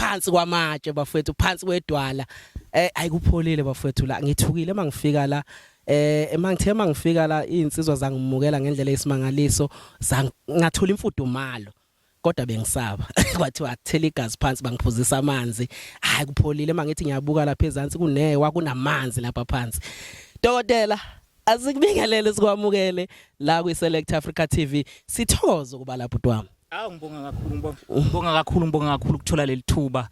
phansi kwamatshe bafethu phansi kwedwala eh ayikupholile bafethu la ngithukile mangifika la eh emangithe mangifika la insizwa zangimukela ngendlela esimangaliso ngathola imfudumalo kodwa bengisaba kwathiwa akuthela igazi phansi bangiphuzisa amanzi hayi kupholile mangithi ngiyabuka lapha ezantsi kunewa kunamanzi lapha phansi dokotela asikubingelele sikwamukele la kwi Select Africa TV sithokoza ukuba lapho twami Awu ngibonga kakhulu ngibonga ngibonga kakhulu ngibonga kakhulu ukuthola leli thuba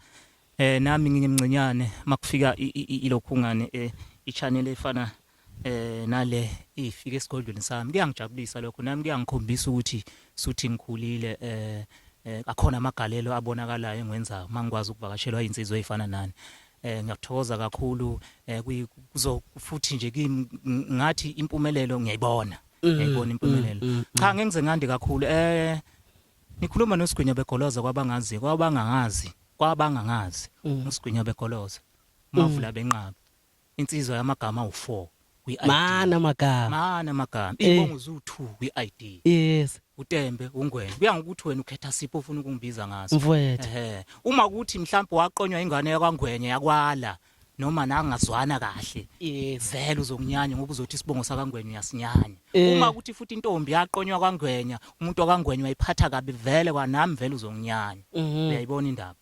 eh nami ngingimncinyane makufika i- i- i- ilokhungane eh i-channel efana eh nale ifike esigodlweni sami kuyangijabulisa lokho nami kuyangikhombisa ukuthi suthi ngikhulile eh eh, akhona amagalelo abonakalayo engwenzayo mangikwazi ukuvakashelwa insizwa ezifana nani eh ngiyakuthokoza kakhulu eh kuyi- kuzo futhi nje kimi ng- ngathi impumelelo ngiyayibona ngiyibona impumelelo cha ngeke ngize ngande kakhulu eh nikhuluma nosigwinya begoloza kwabangazi kwabangangazi kwabangangazi usigwinya begoloza mavula benqaba insizwa yamagama u4 mana magama mana magama ibongo zu2 kwi-ID yes uTembe uNgwenya kuya ngokuthi wena ukhetha sipho ufuna ukungibiza ngaso mfwethu ehe uma ukuthi mhlawumbe waqonywa ingane yakwaNgwenya yakwala noma nangazwana kahle yes vele uzokunyanya ngoba uzothi isibongo sakangwenya uyasinyanya eh. uma kuthi futhi intombi yaqonywa kwangwenya umuntu wakangwenya wayiphatha kabi vele kwanami vele uzokunyanya mhm. uyayibona indaba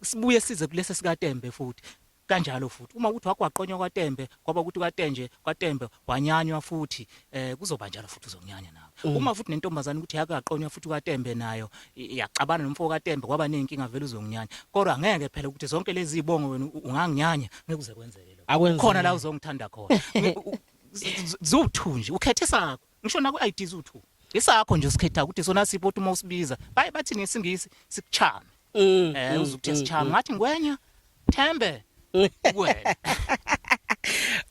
sibuye size kulesi sikaTembe futhi kanjalo futhi uma ukuthi wagwaqonywa kwaTembe kwaba ukuthi kwaTenje kwaTembe wanyanywa futhi eh kuzoba njalo futhi uzonyanya nawe mm. uma futhi nentombazane ukuthi yake yaqonywa futhi ukaTembe nayo yaxabana nomfo kaTembe kwaba nenkinga vele uzonginyanya kodwa ngeke phela ukuthi zonke lezi zibongo wena unganginyanya ngeke uze kwenzeke lokho khona la uzongithanda khona zuthu nje ukhethe sakho ngisho naku ID zuthu isakho nje usikhetha ukuthi sona sipho uma usibiza baye bathi ngesingisi sikuchame Mm, eh mm, uzukuthe mm, sichama mm. ngathi ngwenya thembe kuwena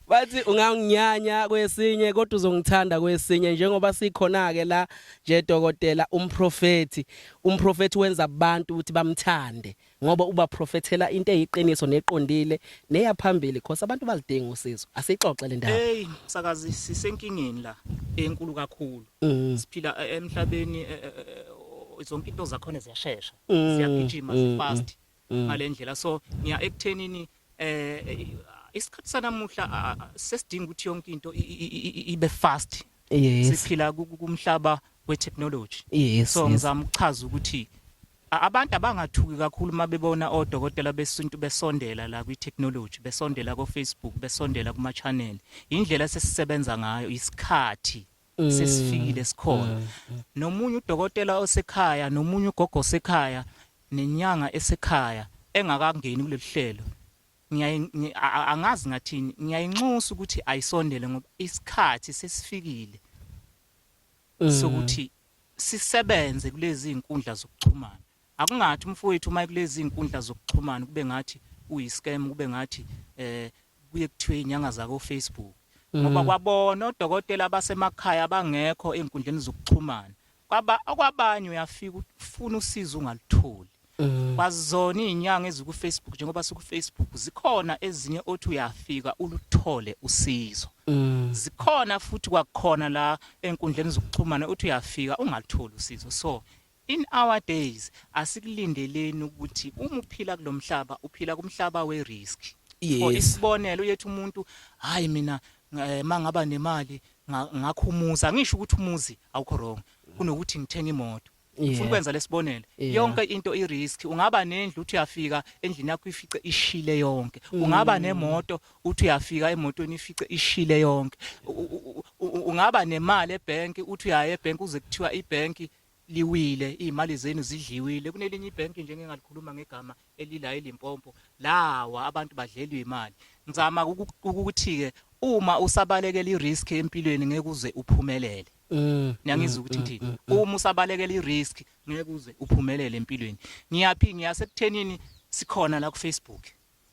bathi unganginyanya kwesinye kodwa uzongithanda kwesinye njengoba sikhona ke la nje dokotela umprofeti umprofeti wenza abantu ukuthi bamthande ngoba uba profethela into eyiqiniso neqondile neyaphambili because abantu balidinga usizo asixoxe le ndaba hey msakazi sisenkingeni la enkulu kakhulu Mm. siphila e- emhlabeni e- e- e- zonke into zakhona ziyashesha Mm. ziyagijima Mm, zifast mm. ngalendlela so ngiya ekuthenini eh eh, isikhathi sanamuhla a- a- sesidinga ukuthi yonke into i- i- i- i- ibe fast Yes. siphila ku- ku- kumhlaba wetechnology Yes. so yes. ngizama ukuchaza ukuthi a- abantu abangathuki kakhulu uma bebona odokotela besintu besondela la kwi-technology besondela ko-facebook besondela kuma-channel yindlela sesisebenza ngayo isikhathi sesifikile sikhona nomunye udokotela osekhaya nomunye ugogo osekhaya nenyanga esekhaya engakangeni kuleli hlelo ngiyaye ngi- a- a- angazi ngathini ngiyayinxusa ukuthi ayisondele ngoba isikhathi sesifikile sokuthi sisebenze kulezi inkundla zokuxhumana Akungathi umfowethu uma kulezi zinkundla zokuxhumana kube ngathi uyiscam kube ngathi eh kuye kuthiwe inyanga zako Facebook ngoba mm. kwabona odokotela abasemakhaya abangekho ezinkundleni zokuxhumana kwaba okwabanye uyafika ufuna usizo ungalutholi mm. kwazona izinyanga eziku Facebook njengoba siku Facebook zikhona ezinye othi uyafika uluthole usizo mm. zikhona futhi kwakhona la enkundleni zokuxhumana uthi uyafika ungalutholi usizo so In our days asikulindeleni ukuthi uma uphila kulomhlaba uphila kumhlaba we risk. For Yes. isibonelo uyethi umuntu hayi mina eh, mangaba nemali nga- ngakho umuzi angisho ukuthi umuzi awukho wrong kunokuthi ngithenga imoto. Yeah. Ufuna ukwenza lesibonelo. Yeah. Yonke into i risk. Ungaba nendlu uthi uyafika endlini yakho ifice ishile yonke. Mm. Ungaba nemoto uthi uyafika emotweni ifice ishile yonke. U- u- u- u- Ungaba nemali ebank uthi uyaye ebank uze kuthiwa ibank liwile iy'mali zenu zidliwile kunelinye ibhenki nje ngingalikhuluma ngegama elila elimpompo lawa abantu badlelwa imali ngizama ukuthi-ke uma usabalekela i-risk empilweni ngeke uze uphumelele mm, niyangizwa mm, ukuthi mm, ngithini uma usabalekela i-risk ngeke uze uphumelele empilweni ngiyaphi ngiyasekuthenini sikhona la kufacebook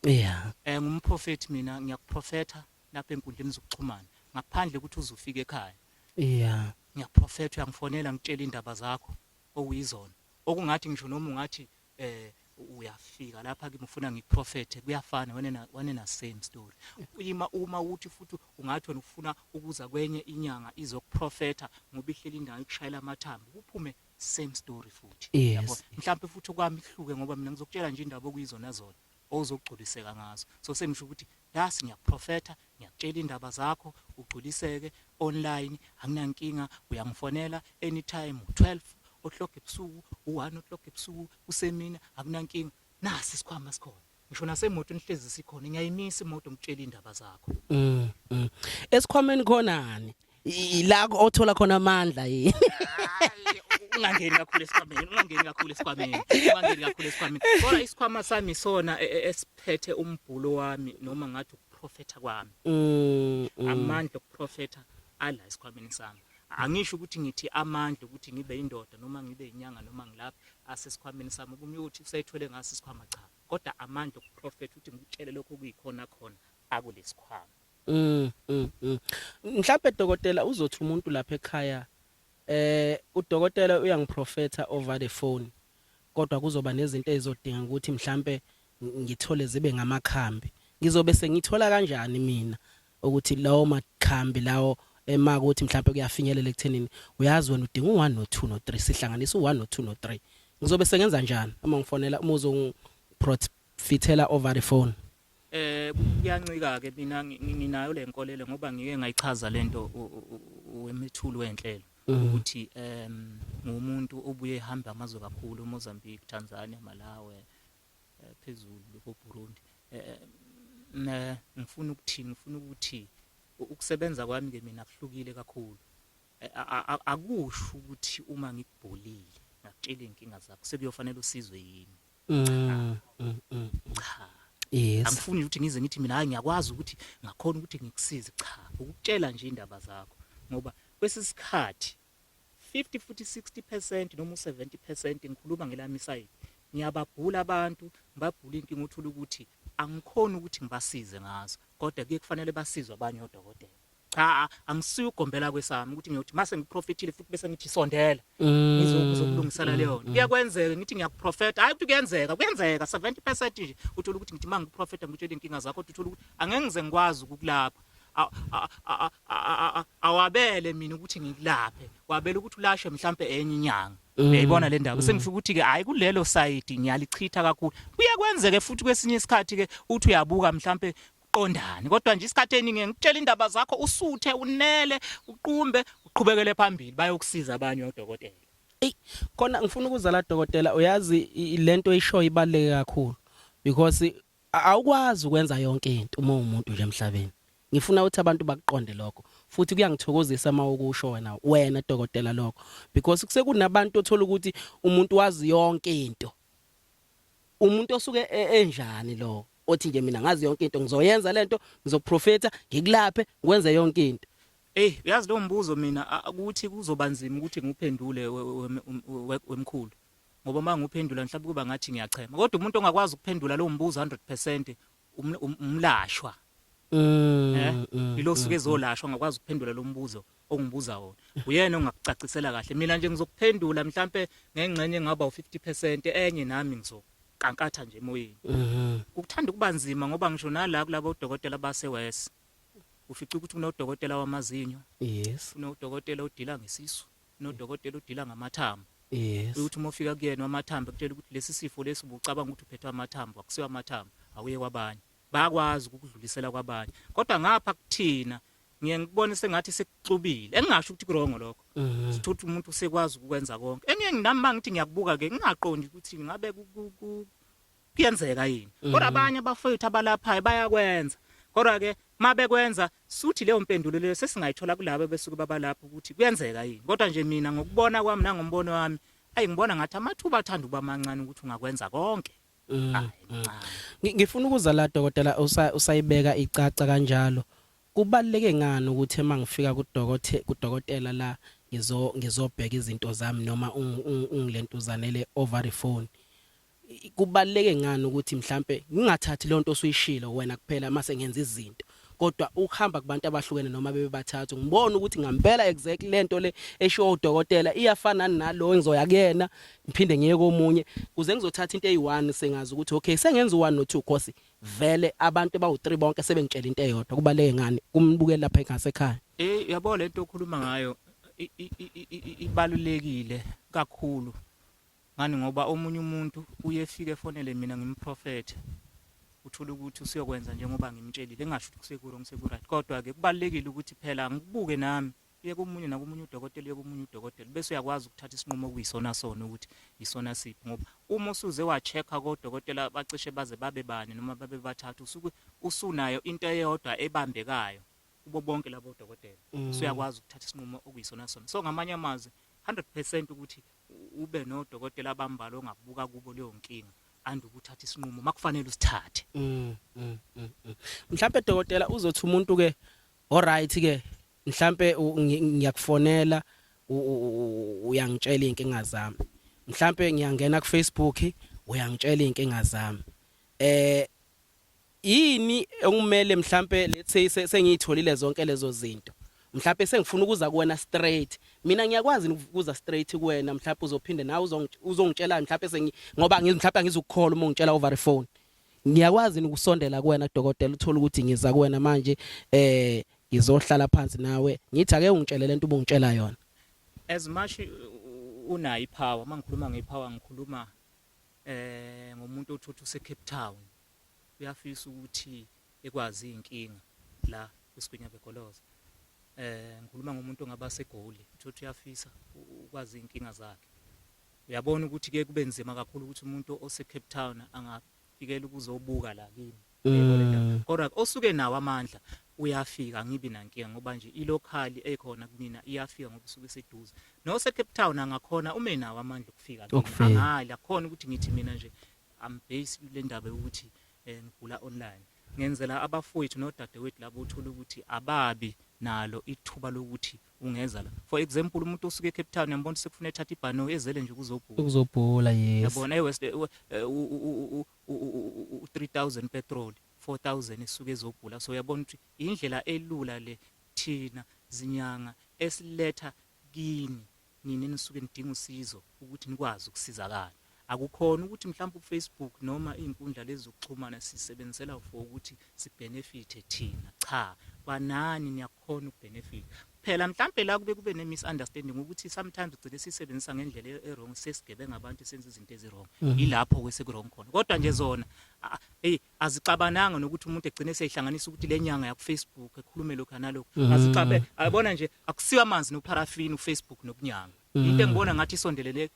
yeah um ngumprofethi mina ngiyakuprofetha lapha enkundleni zokuxhumana ngaphandle ukuthi uze ufike ekhaya Yeah. Ngiyaprofetha uyangifonela ngitshela indaba zakho okuyizona. Okungathi ngisho noma ungathi eh uyafika lapha kimi ufuna ngiprofethe kuyafana wanena wanena same story ima uma uthi futhi ungathi wena ufuna ukuza kwenye inyanga izokuprofetha ngoba ihleli indawo ikushayela amathambo kuphume same story futhi yabo mhlawumbe futhi kwami ihluke ngoba mina ngizokutshela nje indaba okuyizona zona ozogculiseka ngazo so sengisho ukuthi das ngiyakuprofetha ngiyakutshela indaba zakho ugculiseke online anginankinga uyangifonela anytime u12 o'clock ebusuku u1 o'clock ebusuku usemini akunankinga nasi isikhwama sikhona ngisho nasemoto nihlezi sikhona ngiyayimisa imoto ngitshela indaba zakho mm, mm. esikhwameni khonani ila othola khona amandla yini ungangeni kakhulu esikhwameni ungangeni kakhulu esikhwameni ungangeni kakhulu esikhwameni kodwa isikhwama sami sona e, e, esiphethe umbhulo wami noma ngathi ukuprofetha kwami mm, mm. amandla okuprofetha ala esikhwameni sami angisho ukuthi ngithi amandla ukuthi ngibe indoda noma ngibe inyanga noma ngilapha asesikhwameni sami kumyothi usayithole ngaso isikhwama cha kodwa amandla okuprofetha ukuthi ngikutshele lokho kuyikhona khona akulesikhwama Mm, mm, mm. Mhlawumbe dokotela uzothi umuntu lapha ekhaya eh udokotela uyangiprofetha over the phone kodwa kuzoba nezinto ezizodinga ukuthi mhlambe ngithole zibe ngamakhambi ngizobe sengithola kanjani mina ukuthi lawo makhambi lawo ema eh, ukuthi mhlawumbe kuyafinyelela ekuthenini uyazi wena udinga u1 no 2 no 3 sihlanganisa u1 no 2 no 3 ngizobe sengenza njani uma ngifonela uma uzongifithela over the phone Eh kuyancika ke mina nginayo lenkolelo ngoba ngike ngayichaza lento wemithulu wenhlelo mm. ukuthi em ngumuntu obuye ehamba amazwe kakhulu Mozambique, Tanzania, Malawi, eh, phezulu ko Burundi. Eh, eh ngifuna ukuthini ngifuna ukuthi ukusebenza kwami ke mina kuhlukile kakhulu eh, akusho ukuthi uma ngikubholile ngakutshela inkinga zakho sekuyofanele usizwe yini Mm, mm, mm, cha yes angifuni ukuthi ngize ngithi mina hayi ngiyakwazi ukuthi ngakhona ukuthi ngikusize cha ukutshela nje indaba zakho ngoba kwesisikhathi 50 futhi 60% noma u70% ngikhuluma ngelami side ngiyababhula abantu ngibabhula inkinga uthola ukuthi angikhona ukuthi ngibasize ngazo kodwa kuye kufanele basizwe abanye odokotela cha angisiyo ugombela kwesami ukuthi ngiyothi mase ngiprofethile futhi bese ngithi sondela mm. ngizokulungisela leyo mm. kuyakwenzeka ngithi ngiyakuprofetha hayi ukuthi kuyenzeka kuyenzeka 70% nje uthola ukuthi ngithi mangiprofetha ngitshela inkinga zakho uthola ukuthi angeke ngize ngikwazi ukukulapha awabele mina ukuthi ngikulaphe wabela ukuthi ulashe mhlambe enye inyanga mm. uyayibona le ndaba sengifika ukuthi ke hayi kulelo side ngiyalichitha kakhulu kuyakwenzeke futhi kwesinye isikhathi ke uthi uyabuka mhlambe qondani kodwa nje isikhathi eningi ngikutshela indaba zakho usuthe unele uqumbe uqhubekele phambili bayokusiza abanye odokotela Ey khona ngifuna ukuzala dokotela uyazi i- lento isho ibaleke kakhulu because a- awukwazi ukwenza yonke into uma umuntu nje emhlabeni. Ngifuna ukuthi abantu bakuqonde lokho futhi kuyangithokozisa uma ukusho wena wena dokotela lokho because kusekunabantu othola ukuthi umuntu wazi yonke into. Umuntu osuke e- enjani lo othi nje mina ngazi yonke into ngizoyenza lento ngizoprofeta ngikulaphe ngikwenze yonke into Ey uyazi lo mbuzo mina ukuthi kuzobanzima ukuthi ngiphendule wemkhulu ngoba uma ngiphendula mhlawumbe kuba ngathi ngiyachema kodwa umuntu ongakwazi ukuphendula lo mbuzo 100% um, um, umlashwa mm, eh mm, ilo suke mm, ezolashwa ngakwazi ukuphendula lo mbuzo ongibuza wona uyena ongakucacisela kahle mina nje ngizokuphendula mhlambe ngengxenye engaba u50% enye nami ngizokankatha nje emoyeni mhm. ukuthanda kuba nzima ngoba ngisho nala kulabo dokotela base West ufica ukuthi kunodokotela wamazinyo yes kunodokotela odila ngesisu kunodokotela odila ngamathambo yes ukuthi uma ufika kuyena wamathambo kutshela ukuthi lesi sifo lesi ubucabanga ukuthi uphethwe amathambo akusiwa amathambo awuye kwabanye bayakwazi ukukudlulisela kwabanye kodwa ngapha kuthina ngiye ngikubone sengathi sekuxubile engingasho ukuthi kurongo lokho mhm. sithuthi umuntu usekwazi ukwenza konke engiye nginami mangithi ngiyakubuka ke ngingaqondi ukuthi ngabe kuyenzeka yini kodwa mhm. abanye abafowethu abalaphayo bayakwenza kodwa ke mabekwenza suthi leyo mpendulo leyo sesingayithola kulabo besuke babalapha ukuthi kuyenzeka yini kodwa nje mina ngokubona kwami nangombono wami ayi ngibona ngathi amathuba athanda uba mancane ukuthi ungakwenza konke Mm, Ay, mm. cha. Ngi- Ngifuna ukuza la dokotela usa- usayibeka icaca kanjalo. Kubaleke ngani ukuthi uma ngifika kudokote kudokotela la ngizo ngizobheka izinto zami noma ungi- ungi- ungilentuzane le ovary phone. I- Kubaleke ngani ukuthi mhlambe ngingathathi lonto osuyishilo wena kuphela mase ngenza izinto. kodwa ukuhamba kubantu abahlukene noma bebebathathu ngibona ukuthi ngampela exactly lento le eshiwo udokotela iyafana nalo engizoya kuyena ngiphinde ngiye komunye kuze ngizothatha into eyi1 sengazi ukuthi okay sengenza u1 no2 course vele abantu bawu3 bonke sebengitshela into eyodwa kubaleke ngani kumbukela lapha ekhaya ekhaya eh yabo lento okhuluma ngayo ibalulekile kakhulu Ngani ngoba omunye umuntu uye efike efonele mina ngimprofethe uthole ukuthi usuyokwenza njengoba ngimtshelile engasho ukuthi kusekurong sekuright kodwa-ke kubalulekile ukuthi phela ngikubuke nami uye komunye nakomunye udokotela uye komunye udokotela bese uyakwazi ukuthatha isinqumo okuyisona sona ukuthi yisona siphi ngoba uma usuze wa-check-a kodokotela bacishe baze babe bane noma babe bathathu usuke usunayo into eyodwa ebambekayo kubo bonke labo dokotela mm. so uyakwazi ukuthatha isinqumo okuyisona sona so ngamanye amazwi 100% ukuthi ube nodokotela abambalo ongabuka kubo leyo nkinga and ukuthatha isinqumo makufanele usithathe mm, mm, mm, mm. mhlawumbe dokotela uzothi umuntu ke alright ke mhlawumbe ngiyakufonela uyangitshela inkinga zami mhlawumbe ngiyangena ku Facebook uyangitshela inkinga zami eh Yini ekumele mhlambe let's say se- sengiyitholile zonke lezo zinto. Mhlambe sengifuna ukuza kuwena straight. Mina ngiyakwazi yini ukuza straight kuwena mhlambe uzophinde nawe uzongi- uzongitshela mhlambe sengi ngoba ngiz- mhlambe angizukukholwa uma ungitshela over the phone. Ngiyakwazi yini ukusondela kuwena dokotela uthola ukuthi ngiza kuwena manje eh ngizohlala phansi nawe ngithi ake ungitshele lento ubungitshela yona. as much u- unayo ipower mangikhuluma ngepower ngikhuluma eh ngomuntu othotha useCape Town uyafisa ukuthi ekwazi inkinga la kwisigwinya begoloza eh ngikhuluma ngomuntu ongaba segoli uthi uyafisa ukwazi inkinga zakhe uyabona ukuthi ke kube nzima kakhulu ukuthi umuntu ose Cape Town angafikela ukuzobuka la kimi mm. kodwa osuke nawo amandla uyafika ngibi nankinga ngoba nje ilokhali ekhona kumina iyafika ngoba usuke seduze nose Cape Town angakhona ume nawo amandla okufika ngale akhona ukuthi ngithi mina nje I'm based kule ndaba yokuthi eh, ngigula online ngenzela abafowethu nodadewethu labo uthola ukuthi ababi nalo ithuba lokuthi ungeza la for example umuntu osuke eCape Town yambona sekufuna ethatha ibhano ezele nje kuzobhula ukuzobhula yes yabona eWest eh, u 3000 petrol 4000 esuke ezobhula so yabona ukuthi indlela elula le thina zinyanga esiletha kini Nina enisuke nidinga usizo ukuthi nikwazi ukusizakala. Akukhona ukuthi mhlawumbe uFacebook noma izinkundla lezi zokuxhumana sisebenzisela for ukuthi sibenefithe thina. Cha, kwanani niyakhona ukubenefitha. Phela mhlawumbe la kube kube ne-misunderstanding ukuthi sometimes ugcine sisebenzisa ngendlela e-, e-wrong sesigebenga abantu senza izinto ezi-wrong. Mhm. Yilapho ke seku-wrong khona. Kodwa nje zona hey azixabananga nokuthi umuntu egcine seyihlanganisa ukuthi le nyanga yakufacebook ekhulume lokhu analokhu mm. azixabe ayibona nje akusiwa amanzi nopharafini ufacebook nokunyanga mm. into engibona ngathi isondelele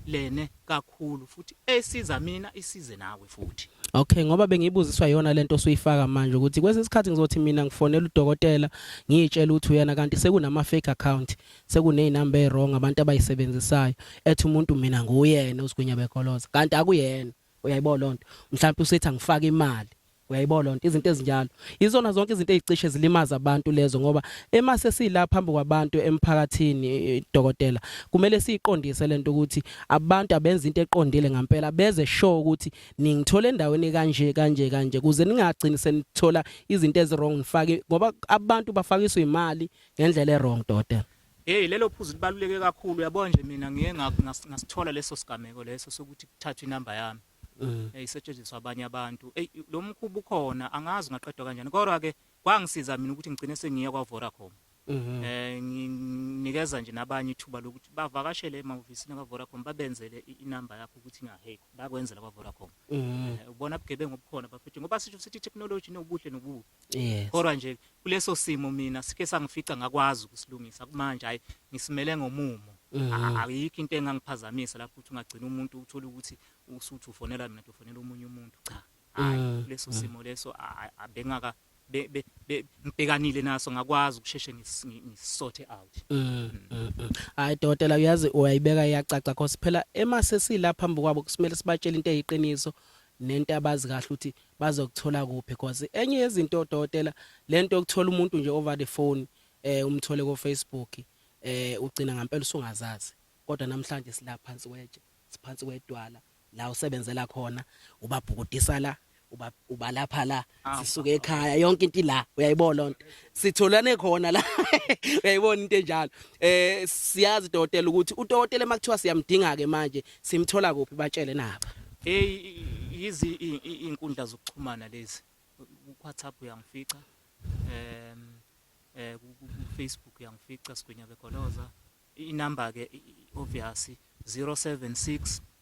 lene kakhulu futhi esiza mina isize nawe futhi Okay ngoba bengibuziswa yona lento osuyifaka manje ukuthi kwesinye isikhathi ngizothi mina ngifonela udokotela ngiyitshela ukuthi uyena kanti sekunama fake account sekunezinamba ezirong abantu abayisebenzisayo ethi umuntu mina nguyena usigwinya bekoloza kanti akuyena uyayibona lonto mhlawumbe usethi angifake imali uyayibona lonto izinto ezinjalo izona zonke izinto ezicishe zilimaza abantu lezo ngoba ema sesila phambi kwabantu emphakathini eh, dokotela kumele siqondise lento ukuthi abantu abenza into eqondile ngempela beze show ukuthi ningithola endaweni kanje kanje kanje kuze ningagcini senithola izinto ezirong nifake ngoba abantu bafakiswa imali ngendlela erong dokotela Hey lelo phuzu libaluleke kakhulu yabo nje mina ngiye ngasithola leso sigameko leso sokuthi kuthathwe inamba yami mm. eyisetshenziswa abanye abantu hey lo mkhubu khona angazi ngaqedwa kanjani kodwa ke kwangisiza mina ukuthi ngigcine sengiya kwa Vodacom mhm. eh nginikeza nje nabanye ithuba lokuthi bavakashele emahhovisini ka Vodacom babenzele inamba yakho ukuthi nga hey bakwenzela kwa Vodacom mhm. eh, ubona bugebengu obukhona bafethu ngoba sisho sithi technology nobuhle nobubi Yes. kodwa nje kuleso simo mina sike sangifica ngakwazi ukusilungisa kumanje hayi ngisimele ngomumo Mhm. ayikho into engangiphazamisa lapho ukuthi ungagcina umuntu uthole ukuthi usuthi ufonela mina ufonela omunye umuntu cha hayi Mm, leso mm. simo leso a- a- a- bengaka be- be- be- ngibhekanile naso ngakwazi ukusheshe ngis- ngi- ngisothe out Mm, mm, mm. hayi dokotela uyazi uyayibeka iyacaca cause phela ema sesilapha phambi kwabo kusimele sibatshele into eyiqiniso nento abazi kahle ukuthi bazokuthola kuphi because enye yezinto odokotela lento yokuthola umuntu nje over the phone eh umthole ko Facebook eh ugcina ngempela usungazazi kodwa namhlanje silaphansi kwetshe siphansi kwedwala la usebenzela khona ubabhukudisa la ubalapha la sisuke ekhaya yonke into ila uyayibona lonto sitholane khona la uyayibona into enjalo eh siyazi dokotela ukuthi udokotela emakuthiwa siyamdinga ke manje simthola kuphi batshele naba hey yizi inkundla zokuxhumana lezi WhatsApp uyangifica em eh ku Facebook uyangifica sigwinya begoloza inamba ke obvious 076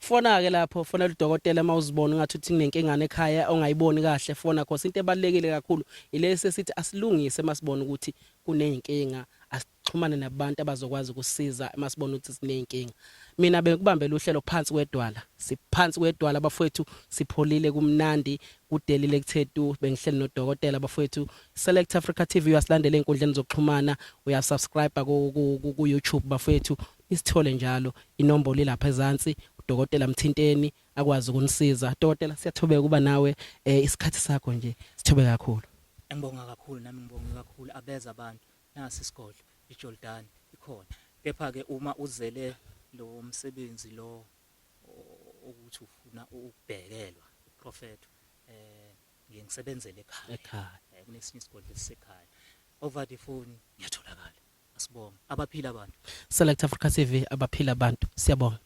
Fona ke lapho fonela udokotela uma uzibona ungathi uthi kunenkingane ekhaya ongayiboni kahle fona cause into ebalekile kakhulu ilesi esithi asilungise masibona ukuthi kuneyinkinga asixhumane nabantu abazokwazi ukusiza masibona ukuthi sineyinkinga mina bekubambela uhlelo phansi kwedwala siphansi kwedwala abafowethu sipholile kumnandi kudelile kuthethu bengihleli nodokotela abafowethu select africa tv uyasilandela enkundleni zokuxhumana uyasubscribe ku YouTube bafowethu Isithole njalo inombolo ilapha ezansi udokotela mthinteni akwazi ukunisiza. Dokotela siyathobeka kuba nawe eh, isikhathi sakho nje sithobe kakhulu. Ngibonga kakhulu nami ngibonge kakhulu abeza abantu nasi isigodlo iJordan ikhona. Kepha ke uma uzele lo msebenzi lo o- ukuthi ufuna ukubhekelwa uprofeto eh ngiye ngisebenzele ekhaya. Ekhaya. Eh, kunesinye isigodlo esisekhaya. Over the phone ngiyatholakala. Asibonge. Abaphila abantu. Select Africa TV abaphila abantu. Siyabonga.